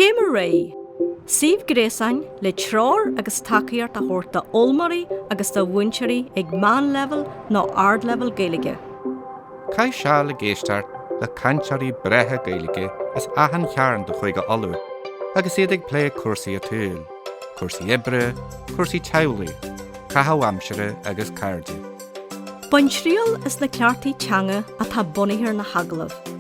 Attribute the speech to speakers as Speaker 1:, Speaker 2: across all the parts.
Speaker 1: Céim ar Aghaidh, Suíomh gréasáin le treoir agus tacaíocht a thabhairt d'fhoghlaimeoirí agus do mhúinteoirí ag meánleibhéal nó ardleibhéal Gaeilge. Caith
Speaker 2: seal ag éisteacht le cainteoirí breátha Gaeilge as achan chearn de Chúige Uladh agus iad ag plé cúrsaí áitiúil, cúrsaí oibre, cúrsaí teaghlaigh, caitheamh aimsire agus cairde. Bain
Speaker 1: triail as na ceachtaí teanga atá bunaithe ar na hagallaimh.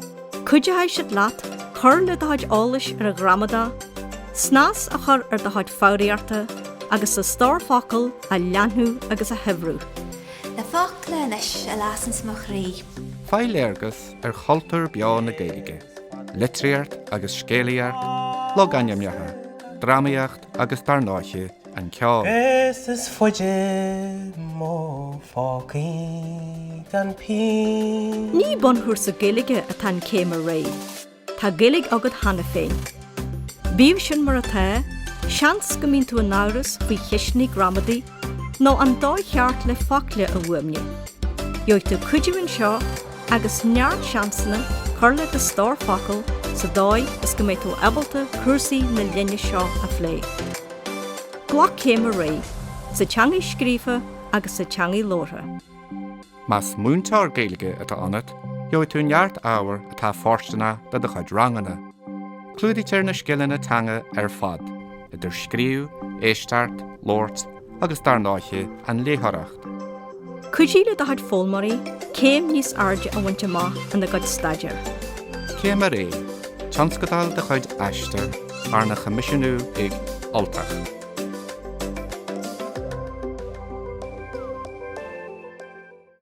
Speaker 1: Cuideoidh siad leat cur le do chuid eolais ar an ghramadach, snas a chur ar do chuid foghraíochta agus do stór focal a leathnú agus a shaibhriú. Na focla
Speaker 3: anois a lasanns mo chroí. Faigh léargas
Speaker 2: ar chultúr beo na Gaeilge, litríocht agus scéalaíocht, logainmneacha, drámaíocht agus dár ndóiche, an ceol. Is is
Speaker 4: faide mo phócaí gan pínn. Ní bunchúrsa
Speaker 1: Gaeilge atá in Céim ar Aghaidh. Tá Gaeilge agat cheana féin. Bíodh sin mar atá, seans go mbíonn tú in amhras faoi cheisteanna gramadaí nó an dóigh cheart le focla a fhuaimniú. Gheobhaidh tú cuidiú anseo agus neart seansanna cur le do stór focal sa dóigh is go mbeidh tú ábalta cúrsaí na linne seo a phlé. Glac céim ar aghaidh, sa teangaidh scríofa agus sa teangaidh labhartha. Más
Speaker 2: múinteoir Gaeilge atá ionat, gheobhaidh tú neart ábhar atá fóirsteanach do do chuid ranganna. Clúdaítear na scileanna teanga ar fad, idir scríobh, éisteacht, labhairt agus dár ndóiche, an léitheoireacht. Cuidigh
Speaker 1: le do chuid foghlaimeoirí céim níos airde a bhaint amach ina gcuid staidéir. Céim ar
Speaker 2: Aghaidh, Tionscadal de chuid Aistear, arna choimisiúnú ag Ultach.